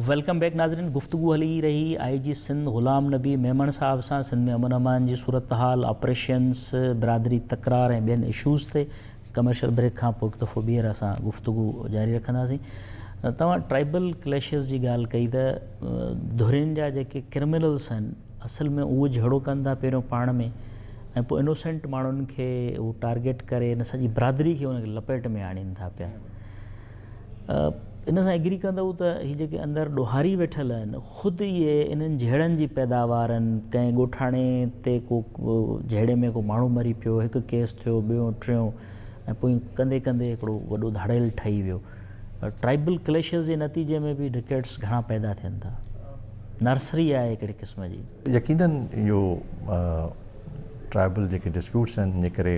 Welcome back ناظرين گفتگو هلي رهي آئي جي سنڌ غلام نبي ميمڻ صاحب سان سنڌ ۾ امن امان جي صورتحال آپريشنس برادري تڪرار ۽ ٻين اشوز تي ڪمرشل بريڪ کان پوء هڪ دفعو ٻيهر اسان گفتگو جاري رکنداسين توهان ٽرائبل ڪليشز جي ڳالهه ڪئي ته ڌرين جا جيڪي ڪرمنلس آهن اصل ۾ اهو جهيڙو ڪن ٿا پهريون پاڻ ۾ ۽ پوء انوسينٽ ماڻهن کي هو ٽارگيٽ ڪري ان سڄي برادري کي ان لپيٽ ۾ آڻين ٿا پيا ان سان ايگري ڪندؤ ته هي جيڪي اندر ڏوهاري ويٺل آهن خود اهي انهن جهيڙن جي پيداوار آهن ڪنهن ڳوٺاڻي تي ڪو جهيڙي ۾ ڪو ماڻهو مري پيو هڪ ڪيس ٿيو ٻيو ٽيون ۽ پوء ڪندي ڪندي هڪڙو وڏو ڌاڙيل ٺهي ويو ٽرائبل ڪليشز جي نتيجي ۾ به ڊڪيٽس گهڻا پيدا ٿين ٿا نرسري آهي هڪڙي قسم جي يقينن اهو ٽرائبل جيڪي ڊسپيوٽس آهن جنهن ڪري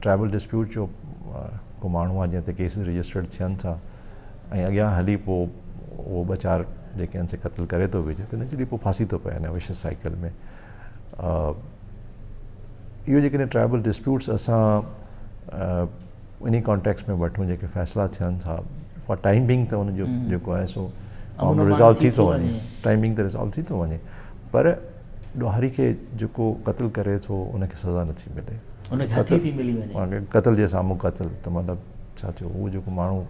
ٽرائبل ڊسپيوٽ جو ڪو ماڻهو آهي جنهن تي ڪيسز رجسٽرڊ ٿين ٿا ۽ اڳيان هلي پوء اهو ٻه چار جيڪي آهن سي قتل ڪري ٿو وجهي ته نيچرلي پوء ڦاسي ٿو پئي هن وشيس سائيڪل ۾ اهو جيڪڏهن ٽرائبل ڊسپيوٽس اسان انهي ڪانٽيڪس ۾ وٺون جيڪي فيصلا ٿين ٿا فار ٽائم بينگ ته ان جو جيڪو آهي سو ٽائم بينگ ته ريزالو ٿي ٿو وڃي پر ڏوهاري کي جيڪو قتل ڪري ٿو ان کي سزا نه ٿي ملي ان کي هٿي ٿي ملي وڃي قتل جي سامهون قتل ته مطلب ڇا ٿيو هو جيڪو ماڻهو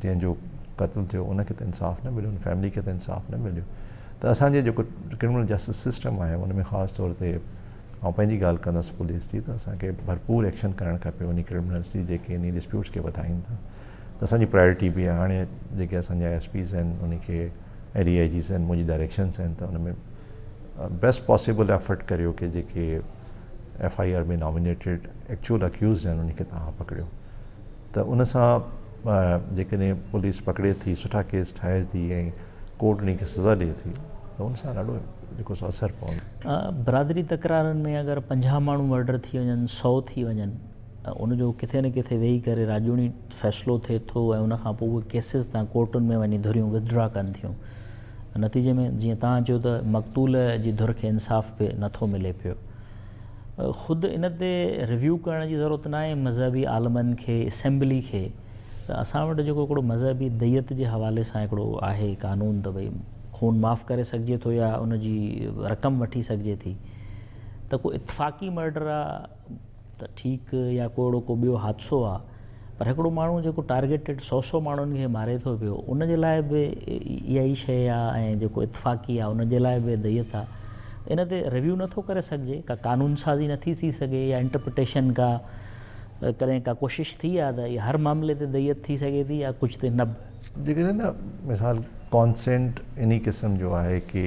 جنهن جو قتل ٿيو ان کي ته انصاف نه مليو ان فيملي کي ته انصاف نه مليو ته اسانجي جيڪو ڪرمنل جسٽس سسٽم آهي ان ۾ خاص طور تي آئون پنهنجي ڳالهه ڪندس پوليس جي ته اسانکي ڀرپور ايڪشن ڪرڻ کپي انهي ڪرمنلس جي جيڪي انهي ڊسپيوٽس کي وڌائين ٿا ته اسان جي پرائرٽي به هاڻي جيڪي اسان جا ايس پيز آهن انهن کي ۽ ڊي آئي جيز آهن منهنجي ڊائريڪشنس آهن ته ان ۾ بيسٽ پاسيبل ايفرٽ ڪريو ڪي جيڪي F I R ۾ nominated actual accused آهن انهن کي تهان پڪڙيو ته ان سان جيڪڏهن پوليس پڪڙي ٿي سٺا ڪيس ٺاهي ٿي ۽ ڪورٽ انهن کي سزا ڏئي ٿي ته ان سان ڏاڍو جيڪو سو اثر پوندو برادري تڪرارن ۾ اگر پنجاهه ماڻهو مرڊر ٿي وڃن سؤ ٿي وڃن ۽ ان جو ڪٿي نه ڪٿي ويهي ڪري راڄوڻي فيصلو ٿئي ٿو ۽ ان کان پوء اهي ڪيسز تان ڪورٽن ۾ وڃي ڌريون وٿڊرا ڪن ٿيون. نتيجي ۾ جيئن توهان چيو ته مقتول جي ڌر کي انصاف به نه ٿو ملي پيو. خود ان تي ريويو ڪرڻ جي ضرورت ناهي مذهبي عالمن کي، اسيمبلي کي ته اسان وٽ جيڪو هڪڙو مذهبي ديت جي حوالي سان هڪڙو آهي قانون ته ڀئي خون معاف ڪري سگهجي ٿو يا ان جي رقم وٺي سگهجي ٿي ته ڪو اتفاقي مرڊر آهي، ته ٺيڪ يا ڪو اهڙو ڪو ٻيو حادثو آ پر هڪڙو ماڻهو جيڪو ٽارگيٽيڊ سؤ سؤ ماڻهن کي ماري ٿو پيو ان جي لاء به اها ئي شيء آ ۽ جيڪو اتفاقي آ ان جي لاء به ديت آ ان تي ريويو نه ٿو ڪري سگهجي ڪا قانون سازي نه ٿي ٿي سگهي يا انٽرپريٽيشن ڪا ڪڏهن ڪا ڪوشش ٿي آ ته اها هر معاملي تي ديت ٿي سگهي ٿي يا ڪجهه تي نه به. جيڪڏهن مثال ڪانسينٽ انهي قسم جو آهي ڪي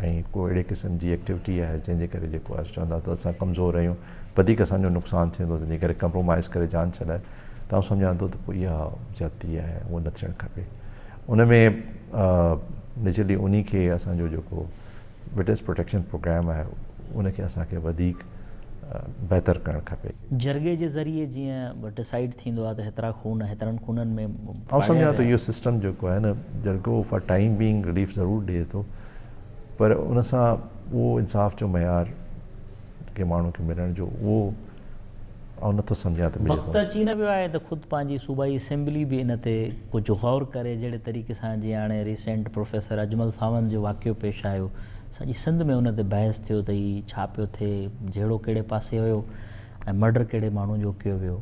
۽ ڪو اهڙي قسم جي ايڪٽيوٽي آهي جنهن جي ڪري جيڪو آهي چوندا ته اسان ڪمزور آهيون وڌيڪ اسان جو نقصان ٿيندو تنهن جي ڪري ڪمپرومائز ڪري جان ڇڏائي ته آئون سمجهان ٿو ته پوء اها زيادتي آهي اهو نه ٿيڻ کپي ان ۾ نيچرلي انهي کي اسان جو جيڪو وٽنس پروٽيڪشن پروگرام آهي ان کي اسان کي وڌيڪ بهتر ڪرڻ کپي. جرڳي جي ذريعي جيئن ڊسائيڊ ٿيندو آهي ته هيترا خون هيترن خونن ۾ پاڙيا ويا. آئون سمجهان ٿو اهو سسٽم جيڪو آهي نه جرڳو فار ٽائيم بينگ رليف ضرور ڏئي ٿو پر ان سان اهو انصاف جو معيار ڪنهن ماڻهو کي ملڻ جو اهو آئون نٿو سمجهان ته ملي ٿو. وقت اچي نه ويو آهي ته خود پنهنجي صوبائي اسيمبلي به ان تي ڪجهه غور ڪري جهڙي طريقي سان جيئن هاڻي ريسينٽ پروفيسر اجمل ساوند جو واقعو پيش آيو سڄي سنڌ ۾ ان تي بحث ٿيو ته هي ڇا پيو ٿئي، جهيڙو ڪهڙي پاسي هيو ۽ مرڊر ڪهڙي ماڻهو جو ڪيو ويو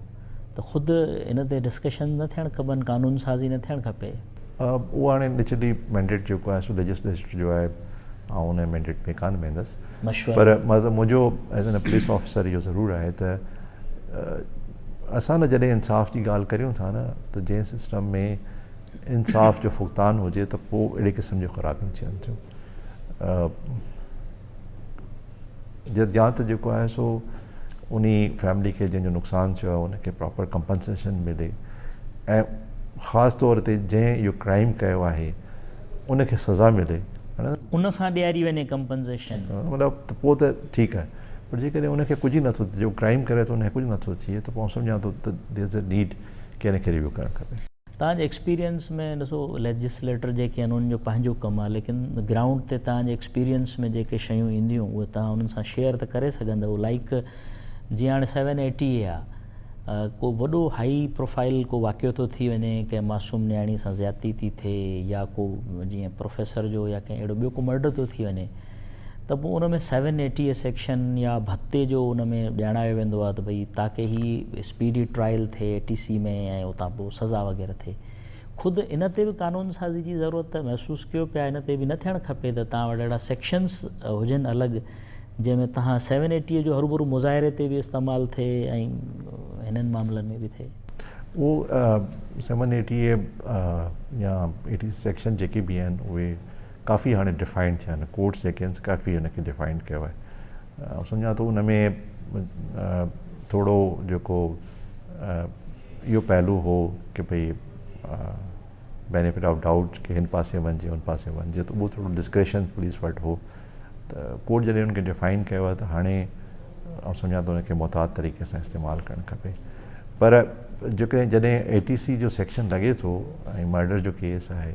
ته خود ان تي ڊسڪشنز نه ٿيڻ کپن، قانون سازي نه ٿيڻ کپي. اهو هاڻي نچلي مينڊيٽ جيڪو آهي سو ليجسليچر جو آهي، آئون انهي مينڊيٽ ۾ ڪانه ويندس پر منهنجو ايز اين پوليس آفيسر اهو ضرور آهي ته اسان نه جڏهن انصاف جي ڳالهه ڪريون ٿا نه ته جنهن سسٽم ۾ انصاف جو فقدان هجي ته پوء اهڙي قسم جون خرابيون ٿين ٿيون. جد يا ته جيڪو آهي سو انهي فيملي کي جنهن جو نقصان ٿيو آهي ان کي پراپر ڪمپنسيشن ملي ۽ خاص طور تي جنهن اهو ڪرائيم ڪيو آهي ان کي سزا ملي ان کان ڏياري وڃي ڪمپنسيشن مطلب ته پوء ته ٺيڪ آهي پر جيڪڏهن ان کي ڪجهه ئي نٿو ٿئي جو ڪرائيم ڪري ٿو ان کي ڪجهه نٿو ٿئي ته پوء آئون سمجهان ٿو ته ديئرز اي نيڊ ڪي ان کي ريويو ڪرڻ کپي. توهان جي ايڪسپيرينس ۾ ڏسو ليجسليٽر جيڪي آهن انهن جو پنهنجو ڪم آهي ليڪن گرائونڊ تي توهان جي ايڪسپيرينس ۾ جيڪي شيون اينديون اهي توهان انهن سان شيئر ته ڪري سگهندؤ لائيڪ جيئن هاڻي سيون اي ٽي اي آهي ڪو وڏو هائي پروفائل ڪو واقعو ٿو ٿي وڃي ڪنهن معصوم نياڻي سان زيادتي ٿي ٿئي يا ڪو جيئن پروفيسر جو يا ڪنهن اهڙو ٻيو ڪو مرڊر ٿو ٿي وڃي ته پوء ان ۾ سيون ايٽي اي سيڪشن يا ڀتي جو ان ۾ ڄاڻايو ويندو آهي ته ڀئي تاڪي هي اسپيڊي ٽرائل ٿئي اي ٽي سي ۾ ۽ اتان پوء سزا وغيره ٿئي خود ان تي به قانون سازي جي ضرورت محسوس ڪيو پيا ان تي به نه ٿيڻ کپي ته توهان وٽ اهڙا سيڪشنس هجن الڳ جنهن ۾ توهان سيون ايٽي اي جو هروڀرو مظاهري تي به استعمال ٿئي ۽ هنن معاملن ۾ به ٿئي اهو سيون ايٽي اي يا اي ٽي سي سيڪشن جيڪي به آهن اهي ڪافي هاڻي ڊفائنڊ ٿيا آهن ڪورٽس جيڪي آهن سي ڪافي ان کي ڊفائنڊ ڪيو آهي آئون سمجهان ٿو ان ۾ ٿورو جيڪو اهو پهلو هو ڪي ڀئي بينيفٽ آف ڊائوٽ ڪي هن پاسي وڃجي هن پاسي وڃجي ته اهو ٿورو ڊسڪريشن پوليس وٽ هو ته ڪورٽ جڏهن ان کي ڊفائن ڪيو آهي ته هاڻي آئون سمجهان ٿو ان کي محتاط طريقي سان استعمال ڪرڻ کپي پر جيڪڏهن جڏهن اي ٽي سي جو سيڪشن لڳي ٿو ۽ مرڊر جو ڪيس آهي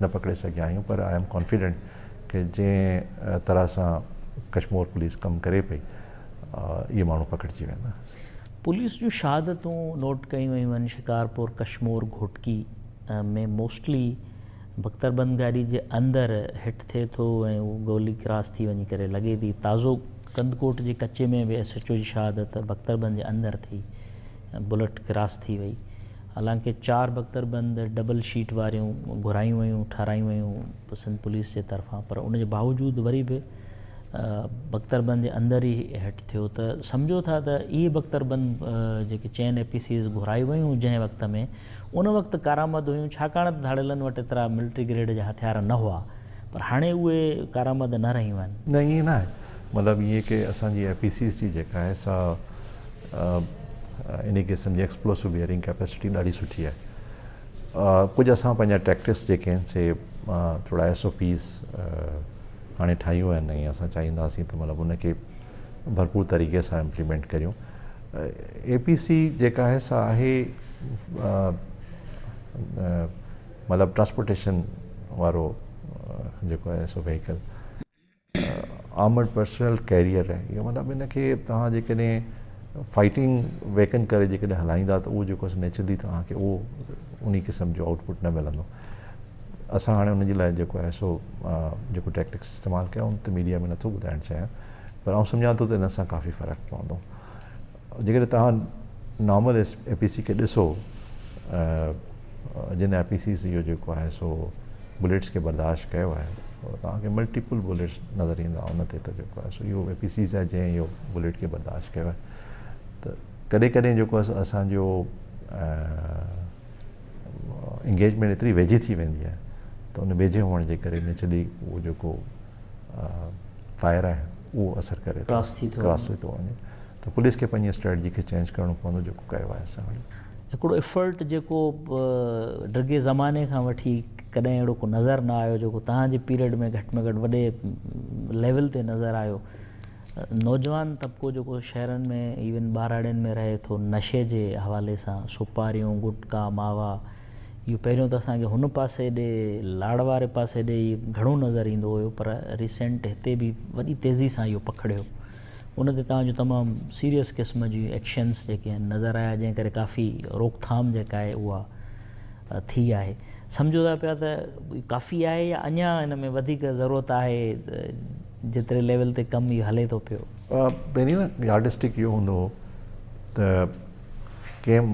نه پڪڙي سگهيا آهيون پر آء ايم ڪانفيڊنٽ ڪي جنهن طرح سان ڪشمور پوليس ڪم ڪري پئي اهي ماڻهو پڪڙجي ويندا. پوليس جون شهادتون نوٽ ڪيون ويون آهن شڪارپور ڪشمور گهوٽڪي ۾ موسٽلي بختربند گاڏي جي اندر هٽ ٿئي ٿو ۽ اهو گولي ڪراس ٿي وڃي ڪري لڳي ٿي تازو ڪنڌڪوٽ جي ڪچي ۾ به ايس ايچ او جي شهادت بختربند جي اندر ٿي بلٽ ڪراس ٿي وئي. حالانڪه چار بڪتر بند ڊبل شيٽ واريون گهرايون ويون ٺارايون ويون سنڌ پوليس جي طرفان پر ان جي باوجود وري به بڪتر بند جي اندر ئي هٽ ٿيو ته سمجهو ٿا ته اهي بڪتر بند جيڪي چئن اي پي سيز گهرايون ويون جنهن وقت ۾ ان وقت ڪارآمد هيون ڇاڪاڻ ته ڌاڙيلن وٽ ايترا ملٽري گريڊ جا هٿيار نه هئا پر هاڻي اهي ڪارآمد نه رهيون آهن. نه ائين نه آهي مطلب ائين ڪي اسان جي اي پي سيز جي جيڪا آهي سا انهي قسم جي ايڪسپلوسو بيئرنگ ڪيپيسٽي ڏاڍي سٺي آهي ڪجهه اسان پنهنجا ٽيڪٽس جيڪي آهن سي ٿورا ايس او پيز هاڻي ٺاهيون آهن ۽ اسان چاهينداسين ته مطلب ان کي ڀرپور طريقي سان امپليمنٽ ڪريون اي پي سي جيڪا آهي سا آهي مطلب ٽرانسپورٽيشن وارو جيڪو آهي سو ويهيڪل آرمڊ پرسنل ڪيريئر آهي اهو مطلب ان کي توهان جيڪڏهن فائٽنگ ويڪن ڪري جيڪڏهن هلائيندا ته اهو جيڪو نيچرلي توهان کي اهو انهي قسم جو آئوٽ پٽ نه ملندو اسان هاڻي ان جي لاء جيڪو آهي سو جيڪو ٽيڪٽڪس استعمال ڪيا ان تي ميڊيا ۾ نٿو ٻڌائڻ چاهيان پر آئون سمجهان ٿو ته ان سان ڪافي فرق پوندو جيڪڏهن توهان نارمل اي پي سي کي ڏسو جن اي پي سيز اهو جيڪو آهي سو بليٽس کي برداشت ڪيو آهي توهان کي ملٽيپل بليٽس نظر ايندا ان تي ته جيڪو آهي سو اهو اي پي سيز آهي جنهن اهو بليٽ کي برداشت ڪيو آهي ته ڪڏهن ڪڏهن جيڪو آهي اسانجو انگيجمينٽ ايتري ويجهي ٿي ويندي آهي ته ان ويجهي هئڻ جي ڪري نيچرلي اهو جيڪو فائر آهي اهو اثر ڪري ٿو ڪراس ٿي ٿو وڃي ته پوليس کي پنهنجي اسٽريٽجي کي چينج ڪرڻو پوندو جيڪو ڪيو آهي اسان وٽ هڪڙو افرٽ جيڪو ڊگهي زماني کان وٺي ڪڏهن اهڙو ڪو نظر نه آيو جيڪو تهان جي پيريڊ ۾ گهٽ ۾ گهٽ وڏي ليول تي نظر آيو نوجوان طبقو جيڪو شهرن ۾ ايون ٻاراڙين ۾ رهي ٿو نشي جي حوالي سان سپاريون گٽڪا ماوا اهو پهريون ته اسان کي هن پاسي ڏي لاڙ واري پاسي ڏي ئي گهڻو نظر ايندو هيو پر ريسينٽ هتي به وڏي تيزي سان اهو پکڙيو ان تي توهان جو تمام سيريس قسم جي ايڪشنس جيڪي آهن نظر آيا جنهن ڪري ڪافي روڪٿام جيڪا آهي اها ٿي آهي سمجهو ٿا پيا ته ڪافي آهي يا اڃا ان ۾ وڌيڪ ضرورت آهي جيتري ليول تي ڪم اهو هلي ٿو پيو پهرين نه يارڊ اسٽڪ اهو هوندو هو ته ڪيم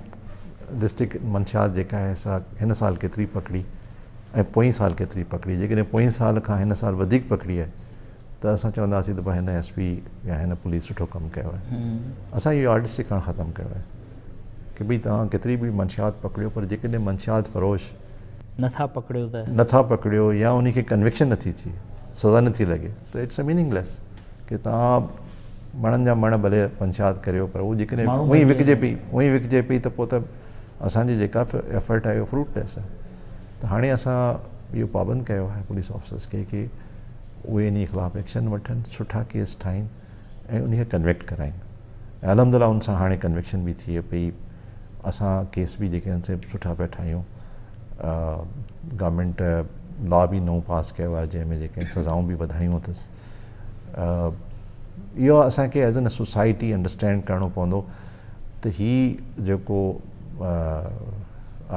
ڊسٽرڪٽ منشيات جيڪا آهي سا هن سال ڪيتري پکڙي ۽ پوئين سال ڪيتري پکڙي جيڪڏهن پوئين سال کان هن سال وڌيڪ پکڙي آهي ته اسان چونداسين ته ڀاء هن ايس پي يا هن پوليس سٺو ڪم ڪيو آهي اسان اهو يارڊسٽڪ هاڻ ختم ڪيو آهي ڪي ڀئي توهان ڪيتري به منشيات پکڙيو پر جيڪڏهن منشيات فروش نٿا پکڙيو ته نٿا پکڙيو يا انهي کي ڪنوڪشن نٿي ٿئي سزا نٿي لڳي ته اٽس اي ميننگ ليس ڪي توهان مڻن جا مڻ ڀلي پنچات ڪريو پر هو جيڪڏهن ماڻهو اوهين بچي وڪجي وڃن. پئي اوهين وڪجي پئي ته پوء ته اسان جي جيڪا ف- ايفرٽ آهي اهو فروٽ ليس آهي ته هاڻي اسان اهو پابند ڪيو آهي پوليس آفيسرز کي ڪي اهي انهي خلاف ايڪشن وٺن سٺا کيس ٺاهين ۽ انهي کي ڪنويڪٽ ڪرائين ۽ الحمد لله ان سان هاڻي ڪنويڪشن به ٿئي پئي اسان ڪيس به جيڪي آهن سي سٺا پيا ٺاهيون آه، گورنمينٽ لا به نئون پاس ڪيو آهي جنهن ۾ جيڪي آهن سزائون به وڌايون اٿس اهو اسان کي ايز اين سوسائٽي انڊرسٽينڊ ڪرڻو پوندو ته هي جيڪو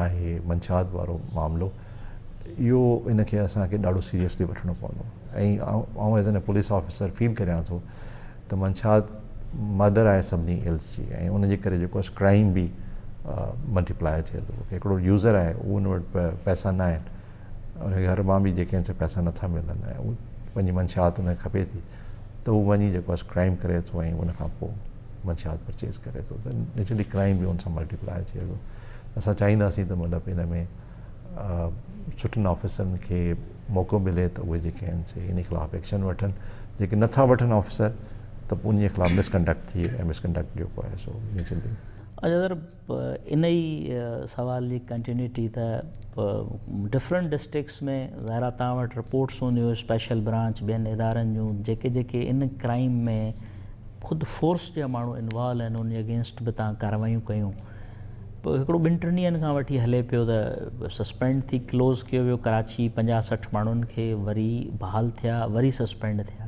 آهي منشات وارو معاملو اهو ان کي اسان کي ڏاڍو سيريسلي وٺڻو پوندو ۽ آئون as an police officer feel ڪريان ٿو ته منشات مدر آهي سڀني ايلس جي ۽ ان جي ڪري جيڪو اس ڪرائم به ملٽيپلائي ٿئي ٿو هڪڙو يوزر آهي اهو ان وٽ پئسا نه آهن انکي گهر مان به جيڪي هنسي پئسا نه ٿا ملن ۽ هو پنهنجي منشيات انکي کپي ٿي ته هو وڃي جيڪو آهي ڪرائيم ڪري ٿو ۽ ان کان پوء منشيات پرچيز ڪري ٿو ته نيچرلي ڪرائيم به ان سان ملٽي پلائي ٿئي ٿو اسان چاهينداسين ته مطلب ان ۾ سٺن آفيسرن کي موقعو ملي ته اهي جيڪي آهن سي ان خلاف ايڪشن وٺن جيڪي نٿا وٺن آفيسر ته ان خلاف مسڪنڊڪٽ ٿئي ۽ مسڪنڊڪٽ جيڪو آهي سو نيچرلي پوء ان ئي سوال جي ڪنٽينيوٽي ته پوء ڊفرنٽ ڊسٽرڪٽس ۾ ظاهر آهي توهان وٽ رپورٽس هونديون اسپيشل برانچ ٻين ادارن جون جيڪي جيڪي ان ڪرائيم ۾ خود فورس جا ماڻهو انوالو آهن ان جي اگينسٽ به توهان ڪاروايون ڪيون پوء هڪڙو ٻن ٽن ڏينهن کان وٺي هلي پيو ته سسپينڊ ٿي ڪلوز ڪيو ويو ڪراچي پنجاهه سٺ ماڻهن کي وري بحال ٿيا وري سسپينڊ ٿيا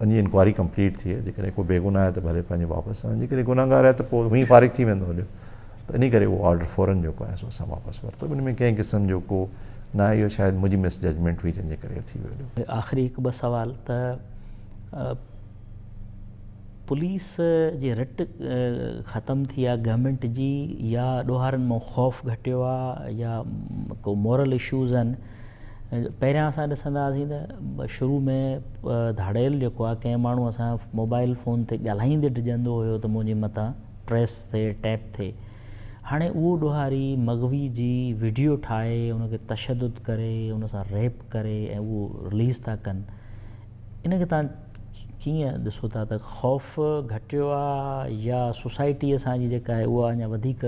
ان جي انڪوائري ڪمپليٽ ٿئي جيڪڏهن ڪو بيگناهه آهي ته ڀلي پنهنجي واپس آڻي جيڪڏهن گنهگار آهي ته پوء هونئن فارغ ٿي ويندو هليو ته ان ڪري اهو آرڊر فورن جيڪو آهي سو اسان واپس ورتو ان ۾ ڪنهن قسم جو ڪو نه آهي اهو شايد منهنجي مس ججمينٽ هئي جنهن جي ڪري ٿي ويو هليو. آخري هڪ ٻه سوال ته پوليس جي رٽ ختم ٿي آهي گورنمينٽ جي يا ڏوهارن مان خوف گهٽيو آهي يا ڪو مورل اشوز آهن پهريان اسان ڏسندا هئاسين ته شروع ۾ ڌاڙيل جيڪو آهي ڪنهن ماڻهو سان موبائل فون تي ڳالهائيندي ڊڄندو هيو ته منهنجي مٿان ٽريس ٿئي ٽيپ ٿئي هاڻي اهو ڏوهاري مغوي جي ويڊيو ٺاهي ان کي تشدد ڪري ان سان ريپ ڪري ۽ اهو رليز ٿا ڪن ان کي تان ڪيئن ڏسو ٿا ته خوف گهٽيو آ يا سوسائٽي اسان جي جيڪا آهي اها اڃا وڌيڪ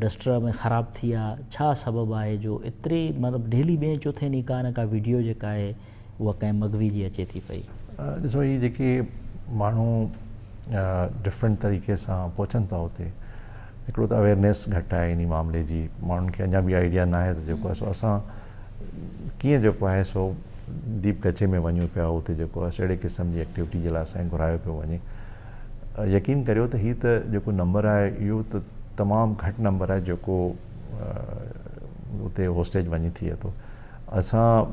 ڊسٽرب ۽ خراب ٿي آ ڇا سبب آهي جو ايتري مطلب ڊيلي ٻين چوٿين ڏينهن ڪا نه ڪا ويڊيو جيڪا آهي اها ڪنهن مغوي جي اچي ٿي پئي. ڏسو هي جيڪي ماڻهو ڊفرنٽ طريقي سان پهچن ٿا اتي هڪڙو ته اويرنيس گهٽ آهي انهي معاملي جي ماڻهن کي اڃا به آئيڊيا ناهي ته جيڪو آهي سو اسان ڪيئن جيڪو آهي سو ديپ ڪچي ۾ وڃون پيا اتي جيڪو آهي سو اهڙي قسم جي ايڪٽيوٽي جي لاء اسان کي گهرايو پيو وڃي يقين ڪريو ته هي ته جيڪو نمبر آهي اهو ته تمام گهٽ نمبر آهي جيڪو اتي هوسٽيج وڃي ٿئي ٿو اسان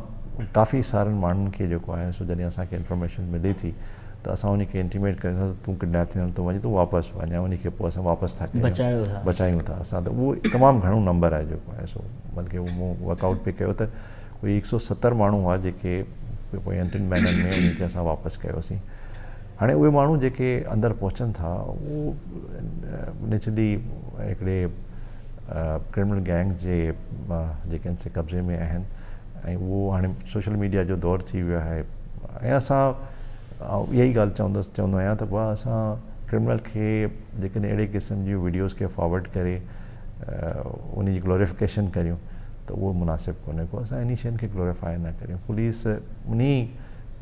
ڪافي سارن ماڻهن کي جيڪو آهي سو جڏهن اسان کي انفارميشن ملي ٿي ته اسان انهي کي انٽيميٽ ڪريون ٿا ته تون ڪڊنيپ ٿيڻ ٿو وڃين تون واپس وڃ ۽ انهي کي پوء اسان واپس ٿا ڪريون بچايو ٿا بچايون ٿا اسان ته اهو تمام گهڻو نمبر آهي جيڪو آهي سو بلڪه اهو مون ورڪ آئوٽ پي ڪيو ته ڪوئي هڪ سئو ستر ماڻهو هئا جيڪي پوء انٽن مهينن ۾ انهي کي اسان واپس ڪيوسين هاڻي اهي ماڻهو جيڪي اندر پهچن ٿا اهو نيچرلي هڪڙي ڪرمنل گينگز جي جيڪي ان سي قبضي ۾ آهن ۽ اهو هاڻي سوشل ميڊيا جو دور ٿي ويو آهي ۽ اسان آئون اها ئي ڳالهه چوندس چوندو آهيان ته بابا اسان ڪرمنل کي جيڪڏهن اهڙي قسم جون ويڊيوز کي فارورڊ ڪري ان جي گلوريفڪيشن ڪريون ته اهو مناسب ڪونهي ڪو اسان انهي شين کي گلوريفائي نه ڪريون پوليس انهي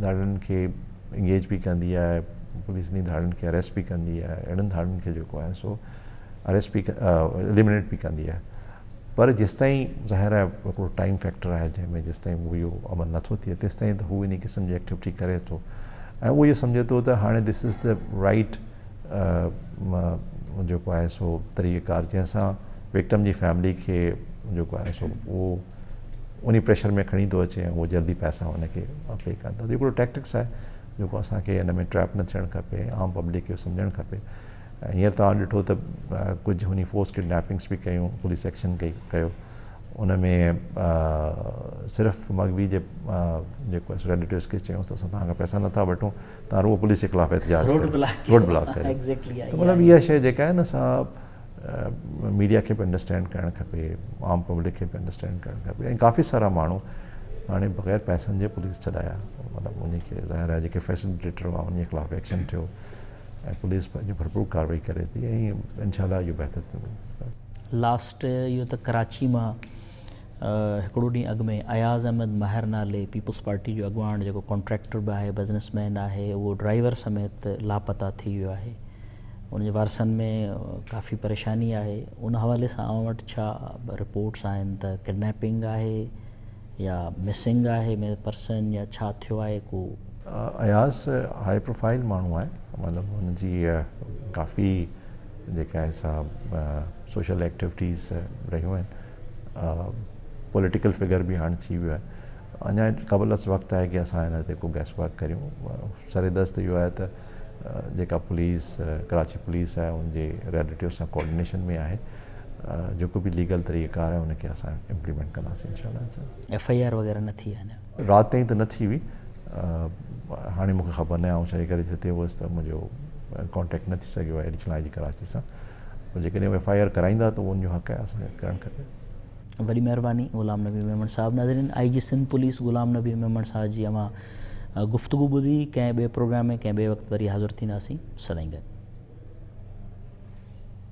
ڌاڙن کي انگيج به ڪندي آهي پوليس انهي ڌاڙن کي اريسٽ به ڪندي آهي اهڙن ڌاڙن کي جيڪو آهي سو اريسٽ به اليمنيٽ به ڪندي آهي پر جيستائين ظاهر آهي هڪڙو ٽائيم فيڪٽر آهي جنهن ۾ جيستائين هو اهو عمل نٿو ٿئي تيستائين ته هو انهي قسم جي ايڪٽيوٽي ڪري ٿو ۽ اهو اهو سمجهي ٿو ته هاڻي دس از دي رائيٽ جيڪو آهي سو طريقه ڪار جنهن سان وڪٽم جي فيملي کي جيڪو آهي سو اهو انهي پريشر ۾ کڻي ٿو اچي ۽ اهو جلدي پئسا هن کي پي ڪن ٿا هڪڙو ٽيڪٽڪس آهي جيڪو اسان کي ان ۾ ٽريپ نه ٿيڻ کپي عام پبلڪ کي سمجهڻ کپي هينئر توهان ڏٺو ته ڪجهه هني فورس ڪڊنيپنگس به ڪيون پوليس ايڪشن ڪئي ڪيو ان ۾ صرف مغوي جي جيڪو اسڪا ڊيٽيلس کي چيون ته اسان تان کان پئسا نٿا وٺون تان روه پوليس جي خلاف احتجاج روڊ بلاڪ روڊ بلاڪ ڪري تو مطلب اها شيء جيڪا آهي نه سا ميڊيا کي به انڊرسٽينڊ ڪرڻ کپي عام پبلڪ کي به انڊرسٽينڊ ڪرڻ کپي ۽ ڪافي سارا ماڻهو هاڻي بغير پئسن جي پوليس ڇڏايا مطلب ان کي ظاهر آهي جيڪي فيسليٽيٽر هئا ان خلاف ايڪشن ٿيو ۽ پوليس پنهنجي ڀرپور ڪارروائي ڪري ٿي ۽ انشاء الله اهو بهتر ٿيندو. لاسٽ اهو ته ڪراچي مان هڪڙو ڏينهن اڳ ۾ اياز احمد ماهر نالي پيپلز پارٽي جو اڳواڻ جيڪو ڪانٽريڪٽر به آهي بزنس مين آهي اهو ڊرائيور سميت لاپتا ٿي ويو آهي ان جي وارثن ۾ ڪافي پريشاني آهي ان حوالي سان اوهان وٽ ڇا رپورٽس آهن ته ڪڊنيپنگ آهي يا مسنگ آهي پرسن يا ڇا ٿيو آهي ڪو. اياز هائي پروفائيل ماڻهو آهي مطلب هن جي ڪافي جيڪي آهي سا سوشل ايڪٽيوٽيز رهيون آهن پوليٽيڪل فگر به هاڻ ٿي ويو آهي اڃا قبل از وقت آهي ڪي اسان هن تي ڪو گيس ورڪ ڪريون سر دست اهو آهي ته جيڪا پوليس ڪراچي پوليس آهي ان جي ريليٽيو سان ڪوآرڊينيشن ۾ آهي جيڪو به ليگل طريقه ڪار آهي ان کي اسان امپليمنٽ ڪنداسين انشاء الله ايف آئي آر وغيرہ نه ٿي آهي رات تائين ته نه ٿي هئي هاڻي مونکي خبر نه آئون ڇاجي ڪري جتي هوس ته منهنجو ڪانٽيڪٽ نه ٿي سگهيو آهي ايڊيشنل آئي جي ڪراچي سان پر جيڪڏهن ايف آئي آر ڪرائيندا ته ان جو حق آهي اسان کي ڪرڻ کپي وڏي مهرباني غلام نبي ميمڻ صاحب ناظرين I G Sindh police Ghulam Nabi Memon صاحب جي اوهان گفتگو ٻڌي ڪنهن ٻئي پروگرام ۾ ڪنهن ٻئي وقت وري حاضر ٿينداسين سدائين گڏ.